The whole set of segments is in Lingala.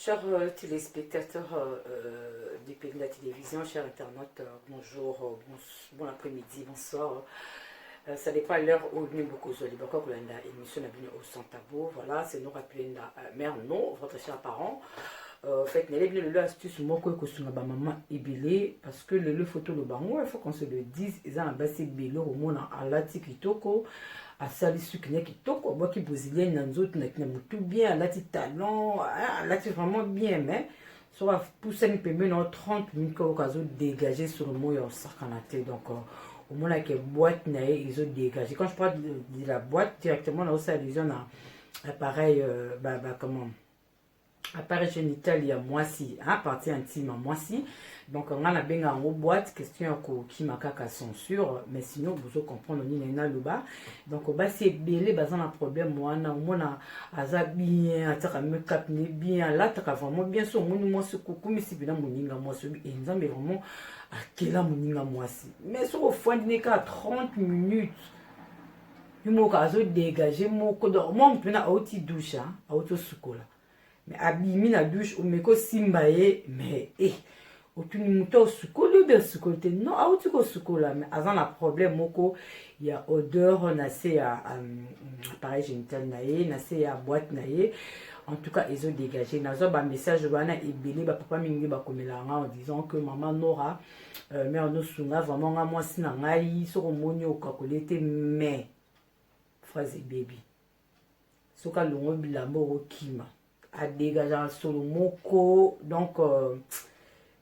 Chers euh, téléspectateurs euh, euh, du pays de la télévision, chers internautes, bonjour, bon, après-midi, bonsoir. ça dépend l'heure où nous beaucoup de l'époque où la émission n'a au sans tabou. Voilà, c'est nous rappeler la mère, non, votre cher parent. Euh, fait nele bino lelo astuce moko ekosunga bamama ebele parce que lelo efoto lobango il faut qu'on se le dise eza na basi ebele okomona alati kitoko asali suki na kitoko abwaki brésilienne na nzoto na kina motu bien alati talon ah, alati vraiment bien mais soki apusani pembeni nao 30 minute kayoka azodégage sur moi ya osakana te donc euh, omonake boîte na ye ezodégage quand je parle de la boîte directement naosala allusion na appareil euh, ba, ba, comment apparition itali ya mwasi hein, parti ya ntima mwasi donc nga nabenga yango boîte question ya kokima kaka censure mais sinon bozo comprendre nini naloba donc basi ebele baza na problème wana omona aza bien atiaka makeup ne bien alataka vraiment bien so omoni mwasi kokumisi mpena moninga mwasi obi enzambe vraiment akela moninga mwasi mais soki ofandi ne kaka 30 minutes ye moko azo dégage moko donc mwa motu mpena auti douche auti osukola mais abimi na douche omeki osimba ye mais e eh, otuni moto osukoli obi asukoli te non auti kosukola mais aza na problème moko ya odeur na se ya um, appareil génital na ye na se ya boîte na ye en tout cas ezo dégage nazwa bamessage wana ebele bapapa mingi bakomela yanga en disant que mama nora euh, mère nosunga vraiment nga mwasi na ngai soki omoni okakoli ete mais phrase ebebi soki alongo bilamba okokima adegajaka solo moko donc euh,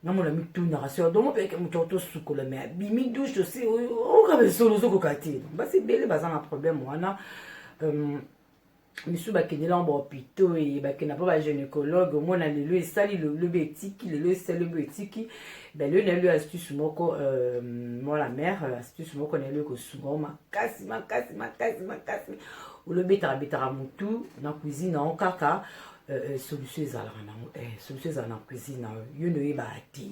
namona mitunaka seur donc mpe moto yako tosukola mai abimi douche tosi oyoka misolo ozokoka te basi ebele baza na problème wana euh, misusu bakende lango bahopitau eye bakenda mpo bagynécologue omona lelo esali lobi etiki lelo esali lobi etiki balelo na yelo astuce moko euh, mwana mare euh, astuce moko na yelo ekosunga o makasi makasi makasi makasi olobetaka betaka motu na cuisine yango kaka euh, solution ezalaka nango solution ezala na cuisine na yo yo nde oyebaka te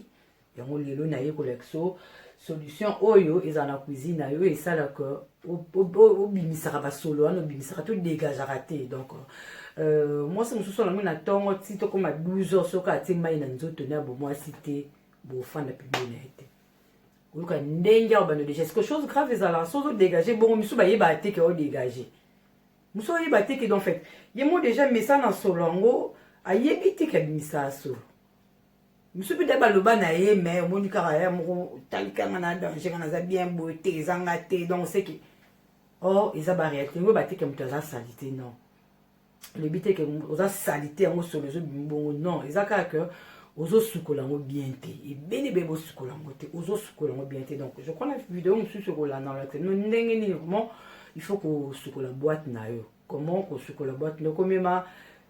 yango lelo naye kolakisa so, solution oyo ezala na cuisine na yo esalaka obimisaka basolo wana obimisaka to dégagaka te donc euh, mwasi mosusu olango na ntongo ti tokóma 12 heures soki atie mai na nzoto na bomwasi te bofanda pibio na ye te oyoka ndenge ya obanda deja ceque chose grave ezalaka soki odégage bongo misusu bayebaka te ke odégage mosusu oyeba te ke donc fait ye mo deja mesa na solo yango ayebi te ke abimisaka solo biso mpe nde baloba na ye me omoni kaka ya moko otalika nga na danger nga naza bien boye te eza nga te donc seke or oh, eza baréalité yango bateke moto aza salite non olobi te ke oza salite yango solo ezobimi bongo non eza kaka ke ozosukola yango bien te ebele ebele bosukola yango te ozosukola yango bien te donc je crois na video mosusu ekolandalate no ndenge nini vraiment il faut kosukola boite na yo comment kosukola boîte mais okomema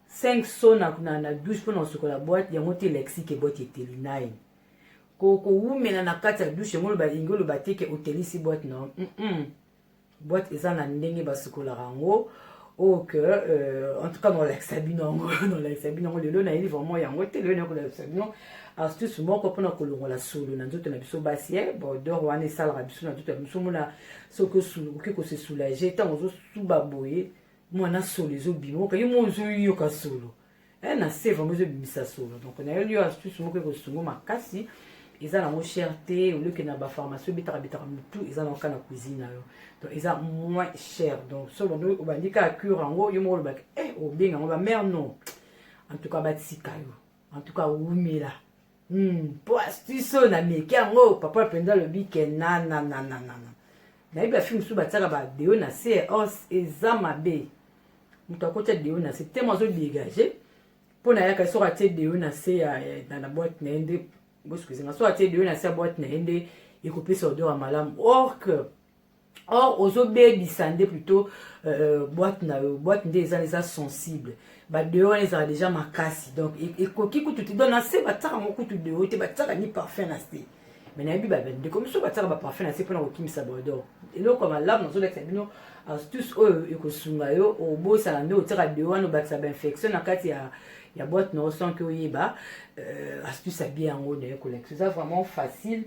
5 so na, na, na douche mpona kosukola boîte yango te lexique boîte eteli naye kowumela na kati ya douche yango oloba lingi oloba te ke otelisi boîte na mm -mm. boîte eza na ndenge basukolaka yango oyo oh, ke euh, en tout cas nolakisa bino yango nolakisa bino yango lelo nayebi vraiment yango te lelo nakolakisa bino astuce moko mpona kolongola solo na nzoto na biso basi e eh, bordor wana esalaka biso na nzoto ya biso mona soki okoki kose soulage ntango tuba boye mwana solo ezobima oka yo moko ozoyoka solo eh, na se vraimen ezobimisa solo donc nayo liyo astuce moko ekosungo makasi eza nango cher te olioke na bapharmacie obetaka betaka motu eza nango kaka na cuisine na yo donc eza moins cher donc so obandi kaka cure yango yo moko olobaka e eh, obenga yango bamare non en tout cas batika yo en tout cas wumela hmm, po astuce oyo nameki yango papa mpenza alobi ke nanananana nayebi bafilme mosusu batiaka badeo na se os eza mabe moto akotya deo na se temo azodegage mpo nayaka soki atie deo na se na boite na ye nde bosukizinga soki atie deo na se ya boite na ye nde ekopesa odeur ya malamu or que or ozobebisa nde plutôt euh, boite na yo boite nde eza eza sensible badeo wana ezala deja makasi donc e, ekoki kutu te donc na se batiaka ngo kutu deo te batiaka ni parfum na se me nayebi bandeko mosusu batiaka baparfum na se mpona kokimisa bordor eloko ya malamu nazolakisa bino astuce oyo ekosunga yo obosana nde otiaka deo wana obakisa bainfection na kati ya ya boite na yo sans ke oyeba euh, astuce ya bien yango naye kolakisa eza vraiment facile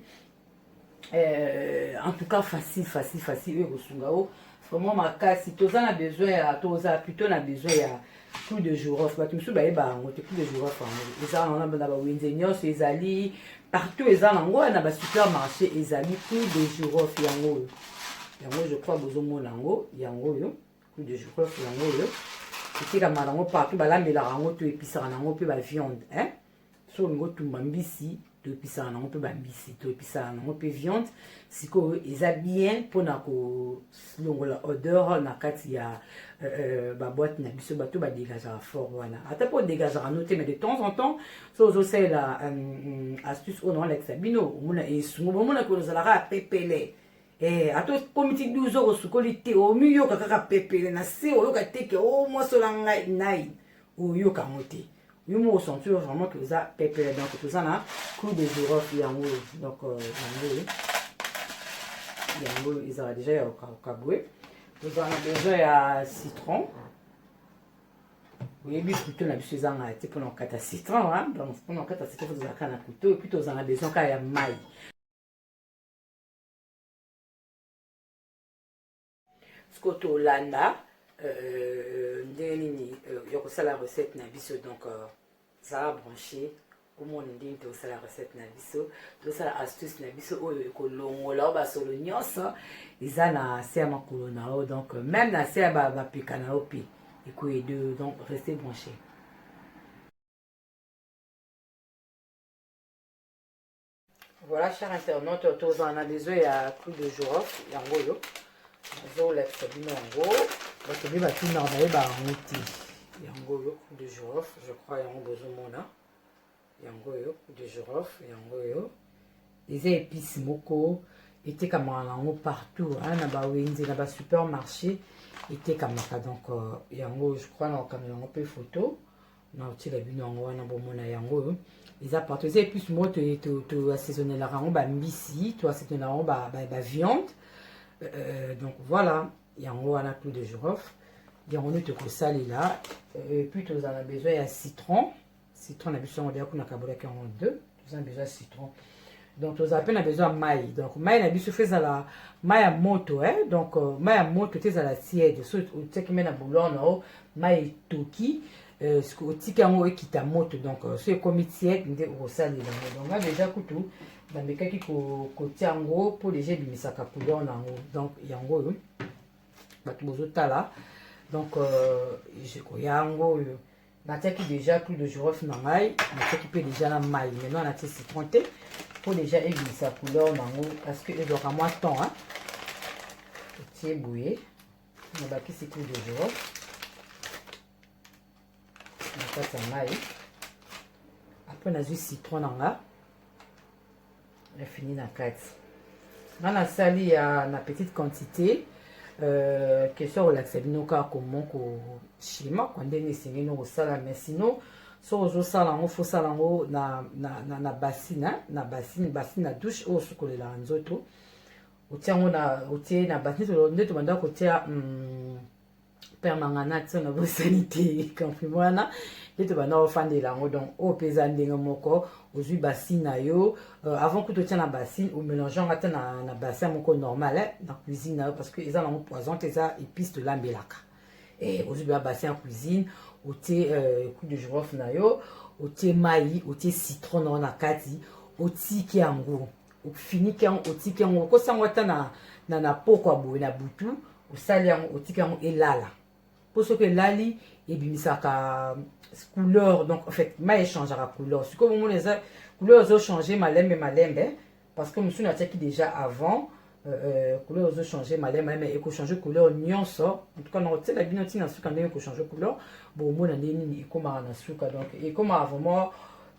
eh, en tout cas facile facile facile oyo ekosunga yo vraiment makasi toza na besoin ya toza plutôt na besoin ya clou de girofle bato mosusu bayeba yango te clou de girofle yango eza na bawenze nyonso ezali partout eza na yango na basupermarché ezali clou de girofle yango oyo yango je crois bozomona yango yango oyo clou de girofle yango oyo etekama na yango partout balambelaka yango to episaka na yango mpe baviande hein? soki olingi otumba mbisi toepisaka nango mpe bambisi toepisaka nango mpe viande sikoyo eza bien mpona kolongola odeur na kati ya euh, euh, baboite na biso bato badegazaka fort wana ata mpe odegazaka no te mais de temps en temps so ozosalela euh, astuce oyo naolakisa bino omona esungu bomonaki ozalaka pepele Eh, ata okomi ti 12 heures osukoli te omiyoka kaka pepele na se oyoka teke o oh, mwasola ngai nai oyoka yango te yo moko sentir vraiment que oza pepele donc toza na clou de girofle yango oyo donc euh, yango oyo yango oyo ezala deja ya okabwe tozala na besoin ya citron oyebi kuto na biso ezangaka te mpona kokata citron donc mpona kokata citron tozalaka na kuto epuis tozala na besoin kaka ya mai sikoyo tolanda euh, ndenge nini euh, ya kosala recette na biso donc euh, zala branche omona ndenge tosala recette na biso tosala astuce na biso oyo ekolongola o basolo nyonso eza na se ya makolo na yo donc même na se ya bapeka na yo mpe ekoyede donc reste branche Voilà, cher internaute, tozala na besoin ya clou de girofle yango oyo nazolakisa bino yango bato nde batina bayeba yango te yango oyo clou de girofle je crois yango bozomona yango oyo clou de girofle yango oyo eza épice moko etekamaka nango partout hein, na bawenze na basupermarché etekamaka donc euh, yango je crois na kokamela yango mpe photo na otila bino yango wana bomona yango oyo eza partout eza epuce moko toassaisonnelaka yango bambisi toassaisonnelaka yango baviande euh, euh, donc voilà yango wana plus de girofle yango nde tokosalela euh, puis tozala besoin ya citron citron na biso yango deya kuna kabolaki yango deux toza na besoin ya citron donc tozala mpe na besoin ya mai donc mai na biso fe ezala mai ya moto eh? donc euh, mai ya moto te ezala tiede so otiaki mai na boulor na yo mai etoki euh, otiki yango ekita moto donc euh, so ekomi tiede nde okosalela yango donc nga deja kutu bamekaki kotia yango mpo deja ebimisaka couleur na yango donc yango oyo bato bozotala donc euh, koya yango oyo natiaki deja clou de girofle na ngai natiaki mpe deja na mai maintenant natie citron te mpo deja ebimisa couleur nango parce que ezwaka mwa temps hein? otie boye nabakisi clou de girofle na kati ya mai apres nazwi citron na nga na fini na kati nga nasali ya na petite quantité euh, question kolakisa bino kaka komo koshima kwa ndenge esengeli no kosala mais sinon soki ozosala yango fosala yango na, na, na, na basine na basine basine na douche oyo osukolelaka nzoto otia yango na otie na basine nde tobanda kotia mm, père mangana ti na bosani te kamprim wana nde tobanda ofandela yango donc oyo mpe eza ndenge moko ozwi basine na yo euh, avant kutu otya na basine omélange yango ata na, na bassin moko normal eh, na cuisine na yo parce que eza nango poison te eza épice tolambelaka eh, ozwi bela bassin ya cuisine otie euh, coup de girofle na yo otie mai otie citron na yo na kati otiki yango ofiniki yango otiki yango okosi yango ata na, na, na poko ya boye na butu osali yango otiki yango elala mpo soki elali ebimisaka couleur donc en fait mai echangeaka couleur sikoyo bomona eza couleur ezochange malembe malembe parce que mosusu natiaki déjà avant euh, euh, couleur ezochange malembe malembe ekochange couleur nyonso en tout cas nakotiela bino ntina suka ndenge ekochange couleur bomona ndenge nini ekomaka na suka donc ekomaka vraiment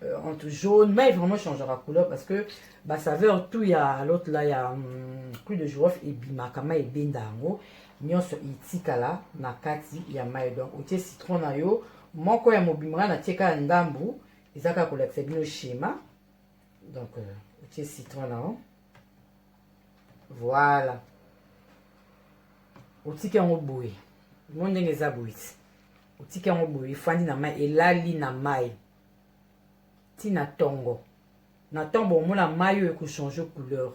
euh, entre jaune mais vraiment changera couleur parce que ba saveur tout ya l'autre là ya um, hmm, clou de girofle ebimaka mai ebenda yango nyonso etikala na kati ya mai donc otie citron na yo moko ya mobimba ngai natie kaka ndambu eza kaka kolakisa bino schéma donc euh, otie citron na yo voilà otiki yango boye mo ndenge eza boye ti otiki yango boye efandi na mai elali na mai ti na tongo na ntango bomona mai oyo ekochange couleur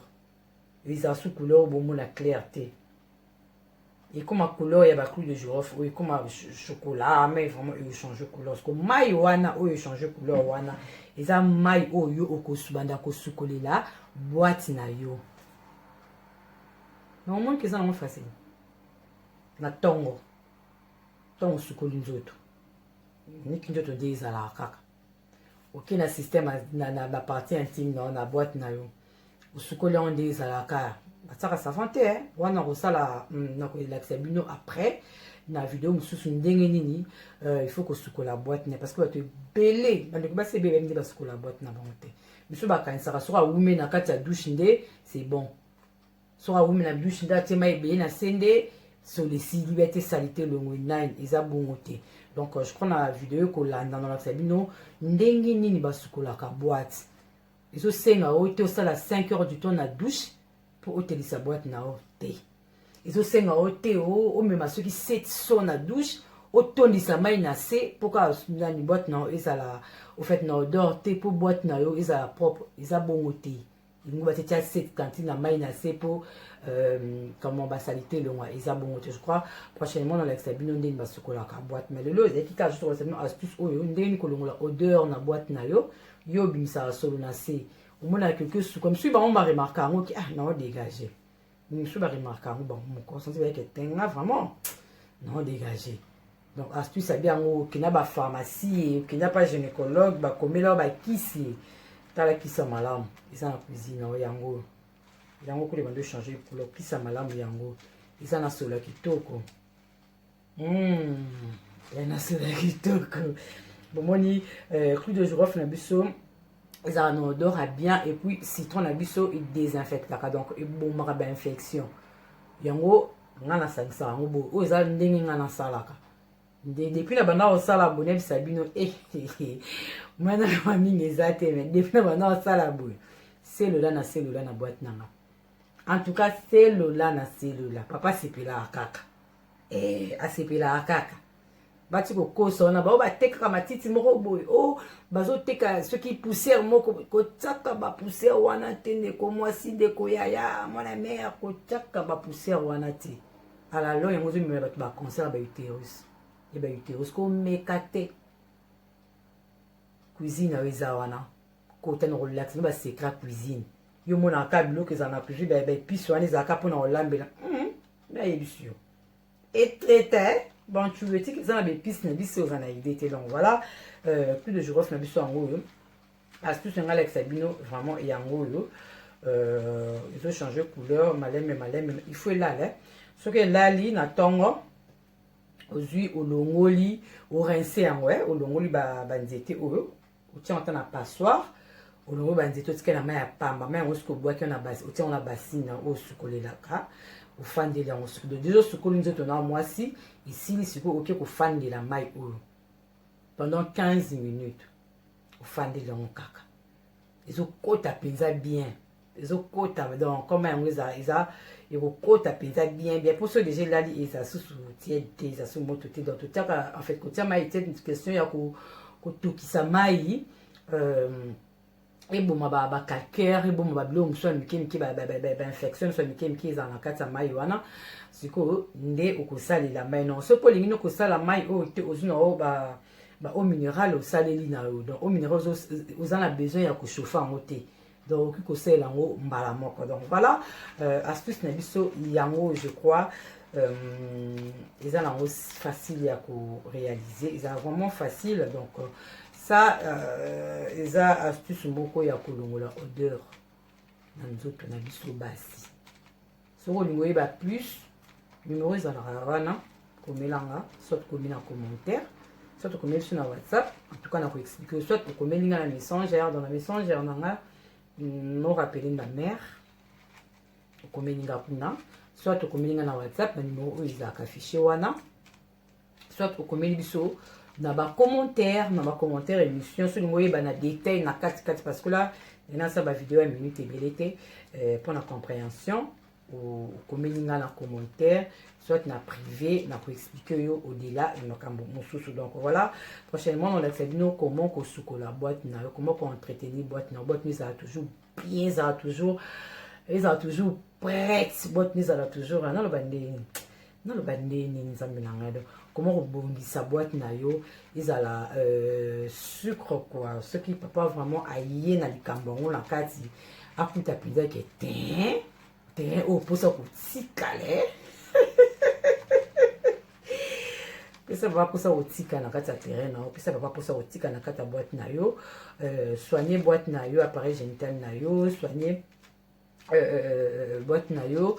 ezala su couleur oyo bomona claire te ekoma couleur ya baclou de girofle oyo ekoma chocolat ah, mai vraiment echange couleur siko mai wana oyo echange couleur wana eza mai oyo okosubanda kosukolela bwati na yo na omoni ke eza nango facile na ntongo ntongo osukoli nzoto niki nzoto nde ezalaka kaka oke na système na baparti intime na yo na boite na yo osukoli yango nde ezalaka batiaka savant te eh. wana kosala hmm, na kolakisa bino après na video mosusu ndenge nini euh, il faut kosukola boite na parce que bato ebele bandeko basi ebele bayebi nde basukola boite na bango te biso bakanisaka soki awume na kati ya douche nde c'est bon soki awumi na douche nde atie mai ebele na se nde solo esili bete salite elongwe nine eza bongo te donc euh, je crois na video ekolanda nalakisa bino ndenge nini basukolaka boite ezosenga yo te osala 5 heures du temps na douche mpo otelisa boite na yo te ezosenga yo te omema soki 7 so na douche otondisa mai na se mpo kaka nani boite na yo ezala ofait na odor te mpo boite na yo ezala propre eza bongo te lingo batietia sete tantine na mai na se mpo euh, kama basalite elongwa eza bongo te je crois prochainement nalakisa bino ndenge basukolaka boite mais lelo ezalaki kaka juste kolakisa bino astuce oyo ndenge nini kolongola odeur na boite na yo yo obimisaka solo na se omonaka quelque suka misusu bango baremarka yango ki ah nao dégage misusu baremarka yango bango moko santi bayeke tenga vraiment nao dégage donc astuce abi yango okenda ba pharmacie okenda pa gynécologue bakomela yo bakisi tala kisa malamu eza na cuisine oyo yango oyo yango kule bando changer couleur kisa malamu yango eza na solo ya kitoko mm. ya na solo ya kitoko bomoni euh, clou de girofle na biso ezala na odor ya bien et puis citron na biso edesinfectaka donc ebomaka bainfection yango nga nasangisa yango boye oyo eza ndenge nga nasalaka nde depuis na banda kosala boye nayebisa bino eh, eh, eh. mwana na mamingi eza te me depuis na banda kosala boye selola na selola na boite na nga en tout cas selola na selola papa asepelaka kaka eh, asepelaka kaka bati kokosa wana bao batekaka matiti moko boye o oh, bazoteka soki poussière moko kotyaka bapoussière wana te ndeko mwasi ndeko yaya mwana mare kotyaka bapoussière wana te alalo yango ozomemela bato baconcert ya bauterus ya bauterus komeka te cuisine oyo eza wana kota na kolakisa no basecret ya cuisine yo monaka biloko ezala na cuisine baepice wana ezalaka mpona kolambela hmm, nayebisi yo etetain bantuletique eza na baepice na biso oza na idée te donc voilà euh, plus de girofle na biso yango oyo astuce na ngai alakisa bino vraiment yango oyo euh, ezo change couleur malembe malembe il faut elala soki elali na ntongo ozwi olongoli orince yango eh, olongoli banzete ba oyo otia yango ata na passoire olongo banzete otika na mai ya pamba mai yango soki obwaki otia yango na basini na oyo osukolelaka ofandeli yango soki deja osukoli nzoto na mwasi esili sikoyo oke kofandela mai oyo pendant 15 minutes ofandeli yango kaka ezokota mpenza bien ezokota donc koma yango eza eza ekokota mpenza bien bien mpo so deja elali eza susu tiede te eza su moto te donc totiaka en fait kotia mai tiede question ya kotokisa mai euh, eboma bacalcaire eboma babiloko mosusu ya mike mike bainfection mosusu ya mike mike ezala na kati ya mai wana sikoyo nde okosalela mai nao soki olingi nde kosala mai oyo te ozwi na oyo baeau minéral osaleli na yo donc eau minéral oza na besoin ya kochauffe yango te donc okoki kosalela yango mbala moko donc voilà euh, astuce na biso yango je crois euh, eza na yango facile ya korealize eza vraiment facile donc euh, ça euh, eza astuce moko ya kolongola odeur na nzoto na biso basi soki olingi oyeba plus numero ezalaka wana komelanga soit komi na commentaire soit okomeli biso na whatsapp en tout cas na koexplike yo soit okomeli nga na messenger dans na messenger na nga no rappele na mare okomeli nga kuna soit okomeli nga na whatsapp na numero oyo ezalaka fichier wana soit okomeli biso na ba commentaire na ba commentaire émission soki ngoyeba na détail na kati kati parce que là nasa ba vidéo ya minute ebele te euh, mpo na comprehension okomeli nga na commentaire soit na privé na koexplike yo au-delà ya makambo mosusu donc voilà prochainement nolakisa bino comment kosukola boîte na yo comment koentretenir boîte na yo boîte no ezala toujours bien ezala toujours ezala toujours prete boite nizala toujours wana aloba ndenge naloba nde nini nzambe na ngai donc koma kobongisa boite na yo ezala euh, sucre kua soki papa vraiment aye na likambo yango na kati akuta mpenza ke ten ten oyo mposa kotikale pesa papa mposa kotika na kati ya terrain na yo pesa papa mposa kotika na kati ya boite na yo euh, soigne boite na yo appareil génital na yo soigne euh, euh, boîte na yo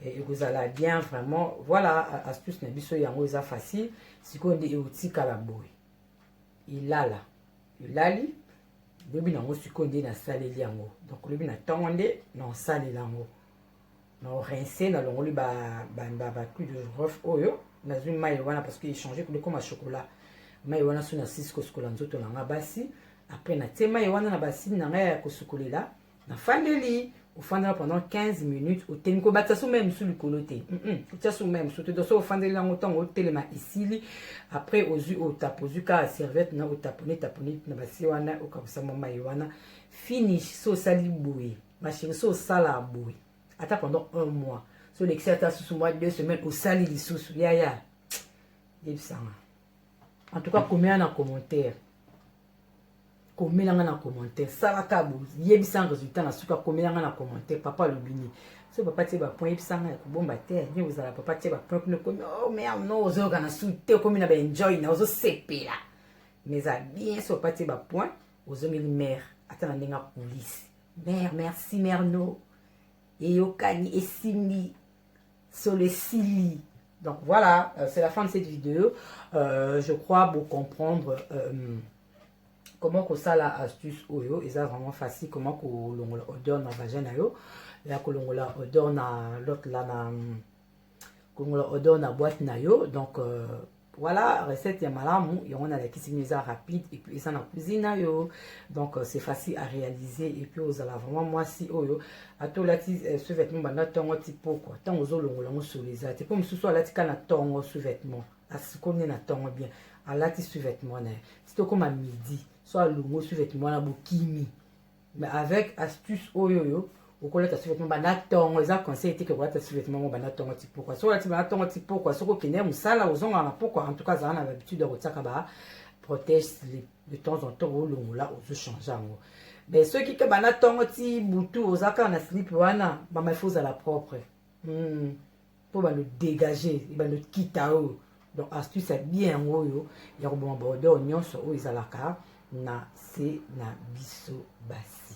ekozala bien vraiment voilà astuce na biso yango eza facile sikoyo nde eotikala boye elala elali lobi na yango sikoyo nde nasaleli yango donc lobi na ntongo nde naosalela yango naorince nalongoli baclou de rof oyo nazwi mai wana parce que echange kolekoma chocolat mai wana so nasisi kosukola nzoto na ngai basi après natie mai wana na basini na ngai ya kosukolela nafandeli ofandela pendant 15 minutes otelemi kobakisa so mai mosusu likolo te otya so mai mosusu te donc so ofandeli yango ntango otelema esili après ozwi otape ozwi kaka serviette na otapone tapone na basi wana okabusa mwa mai wana finish so osali boye masheri so osala boye ata pendant un mois so olekisi ata susu mwa deux semaine osali lisusu yaya yebisanga en tout cas komela na commentaire komela nga na commentaire salaka boyebisa nga résultat na suka komela nga na commentaire papa alobi nini so papa tie bapoint yebisa nga ya kobomba te nie kozala papa tie bapoint kuna ekomi oh merde no ozoyoka na su te okomi na baenjoy na ozosepela mais eza bien so papa tie bapoint ozongeli mare ata na ndenge akulisi mare merci mare no eyokani esimbi solo esili donc voilà euh, c'est la fin de cette vidéo euh, je crois bo comprendre euh, comment kosala astuce oyo eza vraiment facile comment kolongola odeur na vagin na yo ya kolongola odeur na lote la na kongola odeur na boîte na yo donc euh, voilà recette ya malamu yango nalakisi bino eza rapide et puis eza na cuisine na yo donc euh, c'est facile à réaliser et puis ozala vraiment mwasi oyo ata olati euh, sous-vêtement banda ntongo ti pokwa ntango ozolongola yango solo eza te mpo mosusu alati ka na ntongo sous-vêtement asikoli nde na ntongo bien alati sous-vêtement na ye ti tokóma midi so alongo sous-vêtement wana bokimi mais avec astuce oyo yo okolata sous-vêtement banda tongo eza conseil te ke kolata sous-vêtement mo banda tongo ti pokwa soki olati banda tongo ti pokwa soki okende ya mosala ozonga na pokwa en tout cas azala na habitude ya kotiaka ba protège slip de temps en temps olongola ozochange yango mais soki ke banda tongo ti butu oza kaka na slip wana mama ifo ozala propre hmm. mpo bando dégage ebando kita oyo donc astuce ya bien yango oyo ya koboma baodeur nyonso oyo ezalaka na se na biso basi